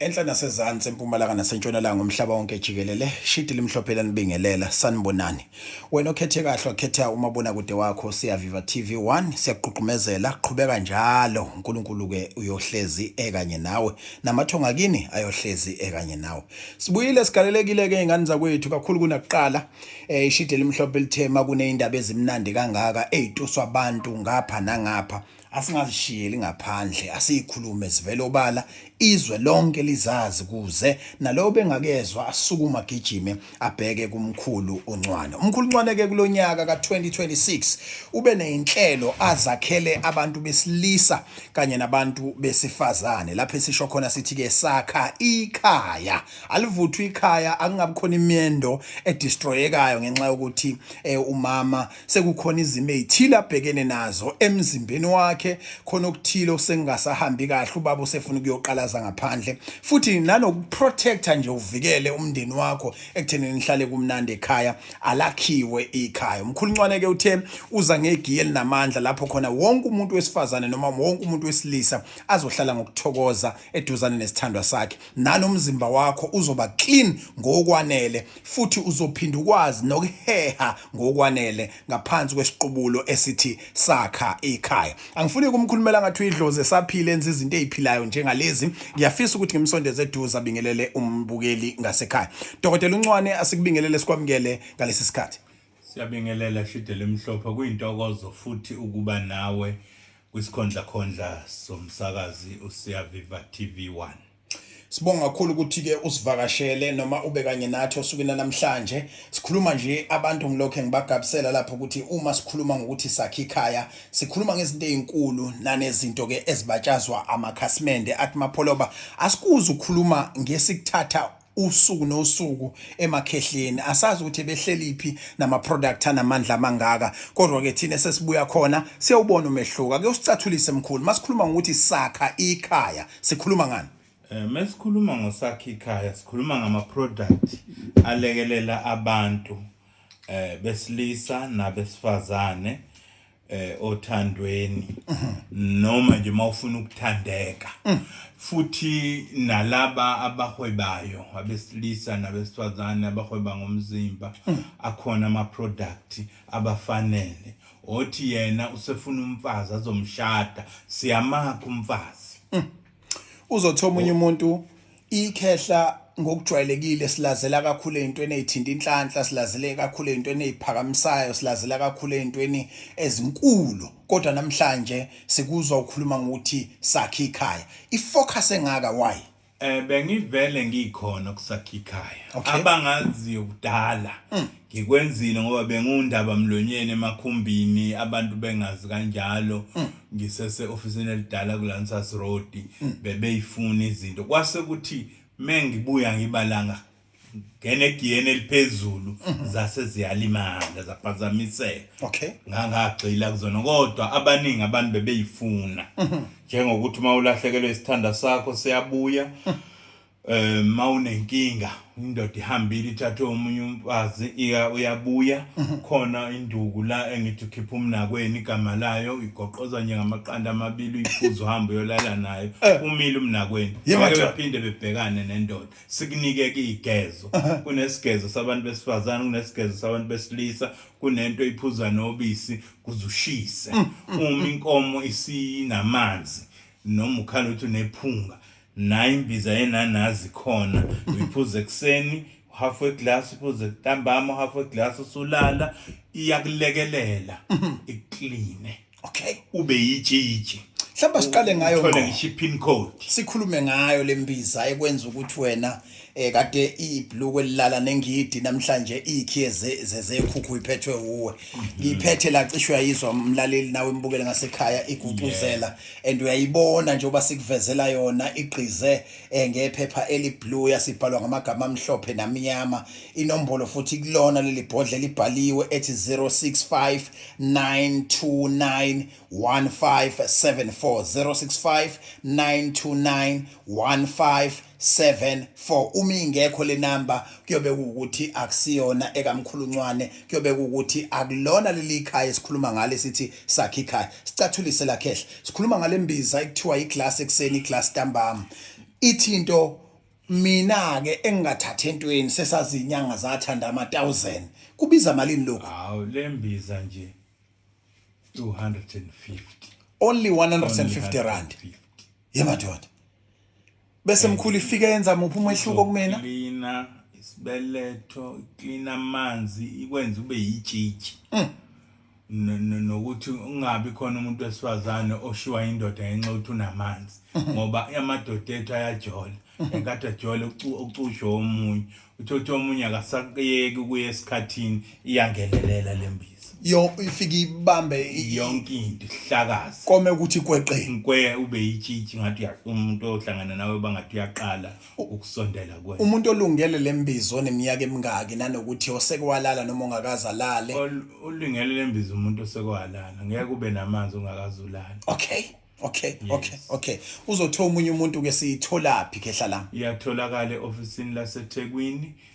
Enhla nasezansi, empumalanga nasentshonalanga, umhlaba wonke jikelele, shidi limhlophe lanibingelela, sanibonani. Wena okhethe kahle wakhetha umabonakude wakho siyaviva TV 1 siyakugqugqumezela qhubeka njalo uNkulunkulu ke uyohlezi ekanye nawe namathonga kini ayohlezi ekanye nawe. Sibuyile sigalelekile ke ingane zakwethu kakhulu kunakuqala eh ishidi elimhlophe lithema kunezindaba ezimnandi kangaka ezituswa abantu ngapha nangapha asingazishiyeli ngaphandle asiyikhulume zivele obala izwe lonke lizazi kuze nalowo bengakezwa asukuma agijime abheke kumkhulu uncwane umkhulu uncwane ke kulonyaka ka2026 ube nezinhlelo azakhele abantu besilisa kanye nabantu besifazane lapho esisho khona sithi ke sakha ikhaya alivuthwa ikhaya akungabi khona imendo edestroyekayo ngenxa yokuthi eh, umama sekukhona izimo ezithile abhekene nazo emzimbeni wakhe khona okuthile osengasahambi kahle ubaba usefuna ukuyoqalaza ngaphandle futhi nanokuprotector nje uvikele umndeni wakho ekutheni nihlale kumnandi ekhaya alakhiwe ikhaya umkhuluncwane ke uthe uza ngegiye linamandla lapho khona wonke umuntu wesifazane noma wonke umuntu wesilisa azohlala ngokuthokoza eduzane nesithandwa sakhe nanomzimba wakho uzoba clean ngokwanele futhi uzophinda ukwazi nokuheha ngokwanele ngaphansi kwesiqubulo esithi sakha ikhaya angifuni ukumkhulumela ngathi uyidlozi esaphile enza izinto eziphilayo njengalezi ngiyafisa ukuthi ngimsondeze eduze abingelele umbukeli ngasekhaya dokotela uncwane asikubingelele sikwamukele ngalesi sikhathi siyabingelela shidele emhlophe kuyintokozo futhi ukuba nawe kwisikhondla khondla somsakazi usiyaviva TV 1 Sibonga kakhulu ukuthi ke usivakashele noma ube kanye nathi osukwini namhlanje. Sikhuluma nje abantu ngilokho ngibagabisela lapho ukuthi uma sikhuluma ngokuthi sakhe ikhaya, sikhuluma ngezinto ezinkulu nanezinto ke ezibatshazwa amakhasimende athi mapholoba. Asikuzi ukukhuluma ngesikuthatha usuku nosuku emakhehleni asazi ukuthi behleliphi nama product anamandla amangaka kodwa ke thina sesibuya khona siyawubona umehluko ake usicathulise mkhulu masikhuluma ngokuthi sakha ikhaya sikhuluma ngani eh mesikhuluma ngosakhe ikhaya sikhuluma ngama product alekelela abantu eh besilisa nabesifazane eh othandweni noma nje mawufuna ukuthandeka futhi nalaba abahwebayo abesilisa nabesifazane abahweba ngomzimba akhona ama product abafanele othi yena usefuna umfazi azomshada siyamakha umfazi mm. uzothi omunye oh. umuntu ikhehla ngokujwayelekile silazela kakhulu ezintweni ezithinta inhlanhla silazele kakhulu ezintweni eziphakamisayo silazela kakhulu ezintweni ezinkulu kodwa namhlanje sikuzwa ukhuluma ngokuthi sakhe ikhaya ifocus engaka why Eh bengivele ngikhona kusakhikhayo Okay. abangaziyo kudala Mm. ngikwenzile ngoba bengundaba mlonyeni emakhumbini abantu bengazi kanjalo Mm. ngisese ofisini elidala kuLansas Road Mm. bebeyifuna izinto kwase kuthi mengibuya ngibalanga ngenegiyeni eliphezulu mhm. zase ziyalimala zaphazamiseka okay ngangagxila kuzona kodwa abaningi abantu bebeyifuna mhm. njengokuthi uma ulahlekelwe isithanda sakho siyabuya mhm. eh mawunenkinga indoda ihambile ithathe omunye umfazi iya uyabuya khona induku la engithi ukhipha umnakweni igama layo igoqoza nje ngamaqanda amabili uyiphuza uhamba uyolala nayo eh. umile umnakweni yebo phinde bebhekane nendoda sikunike ke igezo kunesigezo sabantu besifazane kunesigezo sabantu besilisa kunento iphuza nobisi kuzushise mm, mm, uma mm. inkomo isinamanzi noma ukhala ukuthi unephunga nayo imbiza yenanazi khona uyiphuza ekuseni half a glass iphuze ntambama half a glass usulala iyakulekelela ikline okay ube yitshitshi mhlawumbe siqale ngayo uthole ngisho i-pin code sikhulume ngayo le mbiza ekwenza ukuthi wena eh kade ibhlukwe lilala nengidi namhlanje ikhiye zezekhukhu iphethwe uwe mhm. ngiphethe la cishwe yayizwa umlaleli nawe imbukele ngasekhaya igubuzela and uyayibona njengoba sikuvezela yona igqize eh, ngephepha eliblue yasibhalwa ngamagama amhlophe namnyama inombolo futhi kulona leli bhodle libhaliwe ethi 065 929 1574 065 929 uma ingekho le namba kuyobe ukuthi akusiyona ekamkhuluncwane kuyobe ukuthi akulona leli khaya esikhuluma ngale sithi sakhe ikhaya sicathulise la khehla sikhuluma ngale mbiza ekuthiwa iglass ekseni iglass ntambama ithi into Mina ke engingathathi entweni sesazinyanga zathanda ama 1000. Kubiza malini lokho? Hawu lembiza nje 250. Only 150 rand. Yemadoda. Bese mkhulu ifike yenza muphi umehluko kumina? Cleaner isibeletho, cleaner amanzi, ikwenza ube yitshitshi. Mm. nokuthi ungabi khona umuntu wesifazane oshiwa indoda ngenxa ukuthi unamanzi ngoba amadoda ethu ayajola enkathi ajole ucushwe omunye uthothe omunye akasaqiyeki ukuya esikhathini iyangelelela le mbiza yo ifike ibambe yonke into ihlakaza kome ukuthi kweqe ngikwe ube yitshitshi ngathi umuntu ohlangana nawe bangathi uyaqala ukusondela kwe umuntu olungele lembizo oneminyaka emingaki nanokuthi oseke walala noma ongakaze alale ulungele lembizo umuntu oseke walala ngeke ube namanzi ungakaze ulale okay okay yes. okay okay uzothola umunye umuntu ke siyitholaphi khehla la iyatholakala eofisini laseThekwini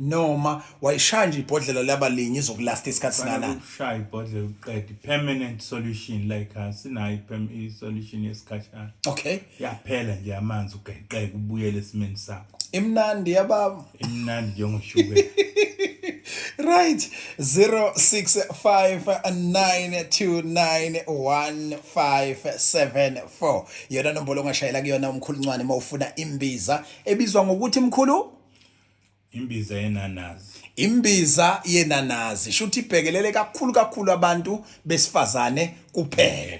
noma wayishaya nje ibhodlela laba linye izokulasta isikhathi singanani ukushaya ibhodlela uqede permanent solution like asinayo i solution yesikhashana okay yaphela nje amanzi ugeqeke ubuyele esimeni sakho imnandi yababa imnandi njengoshukela right 0659291574 yona nombolo ongashayela kuyona umkhuluncwane uma ufuna imbiza ebizwa ngokuthi mkhulu Imbiza yenanazi. Imbiza yenanazi shuthi ibhekelele kakhulu kakhulu abantu besifazane kuphela.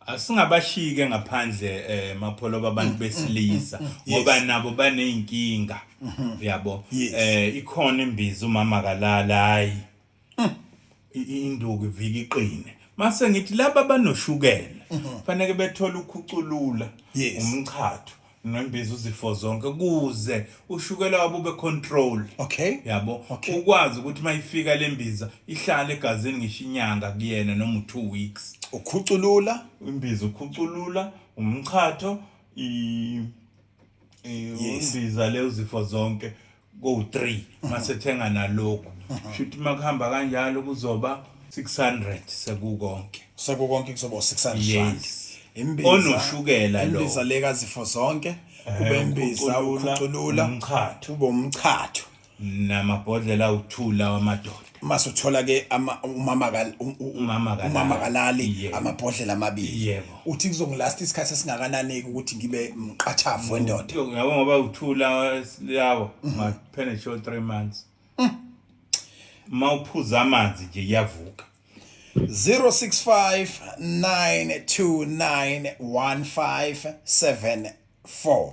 Asingabashike ngaphandle eh mapholoba abantu mm, mm, besilisa mm, ngoba nabo baneyinkinga. Mm-hmm. Yabo. Eh ikhona imbiza umama kalala hayi. induku ivika iqine mase ngithi laba abanoshukela faneke bethole ukhuculula Yes. umchatho nembiza uzifo zonke kuze ushukela wabo ube control Okay. yabo Okay. ukwazi ukuthi mayifika lembiza ihlale egazini ngisho inyanga kuyena noma u2 weeks Ukhuculula. imbiza ukhuculula umchatho i i- Yes. imbiza le uzifo zonke kowu-3 masethenga nalokhu shuthi uma kuhamba kanjalo kuzoba 600 sekukonke sekukonke kuzoba 600 yes imbiza onoshukela lo imbiza leka zifo zonke eh, kube imbiza ukhuculula umchatho kube umchatho namabhodlela uthula wamadoda masuthola ke umama umama umama kalali amabhodlela amabili yebo uthi kuzongilast isikhathi esingakanani ukuthi ngibe mqathavu wendoda yabo ngoba uthula lawo mhm. maphene show 3 months mm. mawuphuza amanzi nje iyavuka 0659291577 4.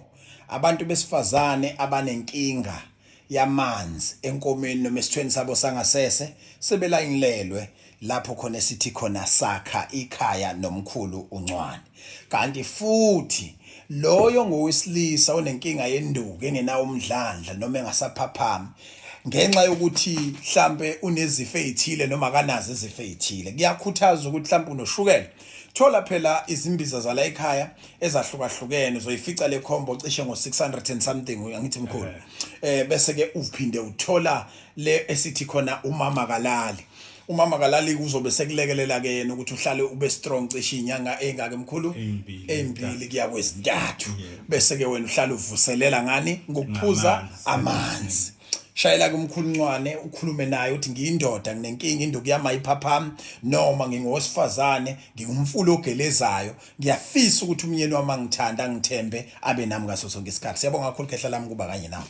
Abantu besifazane abanenkinga yamanzi enkomeni noma esithweni sabo sangasese sebelayinilelwe lapho khona esithi khona sakha ikhaya nomkhulu uncwane kanti futhi loyo ngowesilisa onenkinga yenduku engenawo umdlandla noma engasaphaphami ngenxa yokuthi mhlampe unezifo ezithile noma akanazo izifo ezithile kuyakhuthaza ukuthi mhlampe unoshukela Thola phela izimbiza zala ekhaya ezahlukahlukene zoyifica le combo cishe ngo 600 and something ngithi mkhulu. Eh. eh bese ke uphinde uthola le esithi khona umama kalali. Umama kalali kuzobe sekulekelela ke yena ukuthi uhlale ube strong cishe inyanga engaka emkhulu ezimbili kuya kwezintathu bese ke wena uhlale uvuselela ngani ngokuphuza amanzi. shayela kumkhulu ncwane ukhulume naye uthi ngiyindoda nginenkinga induku yami ayiphaphami noma ngingowesifazane ngingumfula ogelezayo ngiyafisa ukuthi umyeni wami angithanda angithembe abe nami ngaso sonke isikhathi siyabonga kakhulu khehla lami kuba kanye nawe